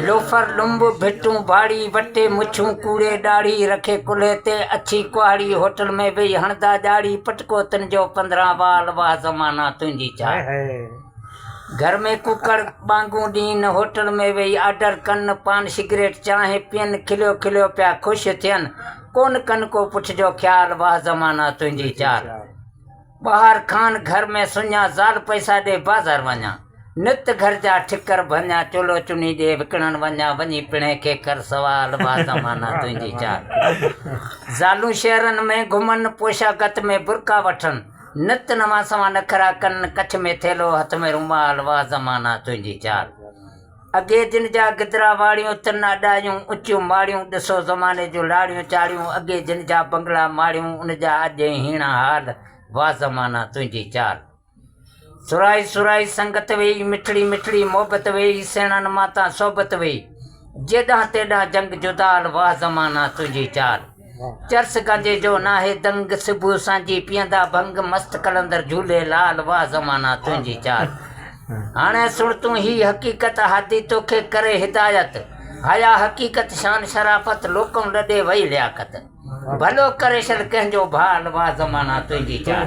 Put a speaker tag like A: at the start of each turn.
A: لوفر ڏنب ڀٽون ڀاڙي وٽي مڇون ڪوڙي ڏاڙهي رکي ڪلهي تي اڇي ڪهاڙي هوٽل ۾ ويهي هڻدا ڄاڙهي پٽڪو تنهنجو پندرهن وال واه زمانا تنهنجي چاڙهي هاء هاء گهر ۾ ڪوڪڙ ٻانگون ڏين هوٽل ۾ ويهي آرڊر ڪن پان سگريٽ چانهه پين کليو کليو پيا خوش ٿين ڪونه ڪن ڪو پٺ جو خيال واه زمانا تنهنجي چاڙهي. ٻاهر کان گهر ۾ سڃان، زال پئسا ڏي بازار وڃان. نت گهر جا ٺڪر ڀڃان، چولو چني ڏي وڪڻڻ وڃان. وڃي پڻهي کي ڪر سوال، واهه زمانا تنهنجي چال. زالون شهرن ۾ گهمن، پوشاڪت ۾ برقعا وٺن. نت نوان سوان نخرا ڪن، ڪڇ ۾ ٿيلهو هٿ ۾ رومال، واهه زمانا تنهنجي چال. اڳي جن جا گدرا واڙيون، تن اڏايون اچيون ماڙيون، ڏسو زماني جون لاڙيون چاڙيون، اڳي جن جا بنگلا ماڙيون، ان جا اڄ ائين هيڻا حال، واھ زمانا تنهنجي چال. سرائي سرائي سنگت ويئي، مٺڙي مٺڙي محبت ويئي، سهڻن مان تان صحبت ويئي، جيڏانهن تيڏانهن جنگ جدال، واھ زمانا تنهنجي چال. چرس گانجي جو ناهي دنگ، صبح سانجهي پيئندا ڀنگ، مست قلندر جهولي لال، واه زمانا تنهنجي چال. هاڻي سڻ تون هي حقيقت، هادي توکي ڪري هدايت، هيا حقيقت شان شرافت، لوڪم لڏي وئي لياقت، ڀلو ڪري شل ڪنهن جو ڀال، واه زمانا تنهنجي چال.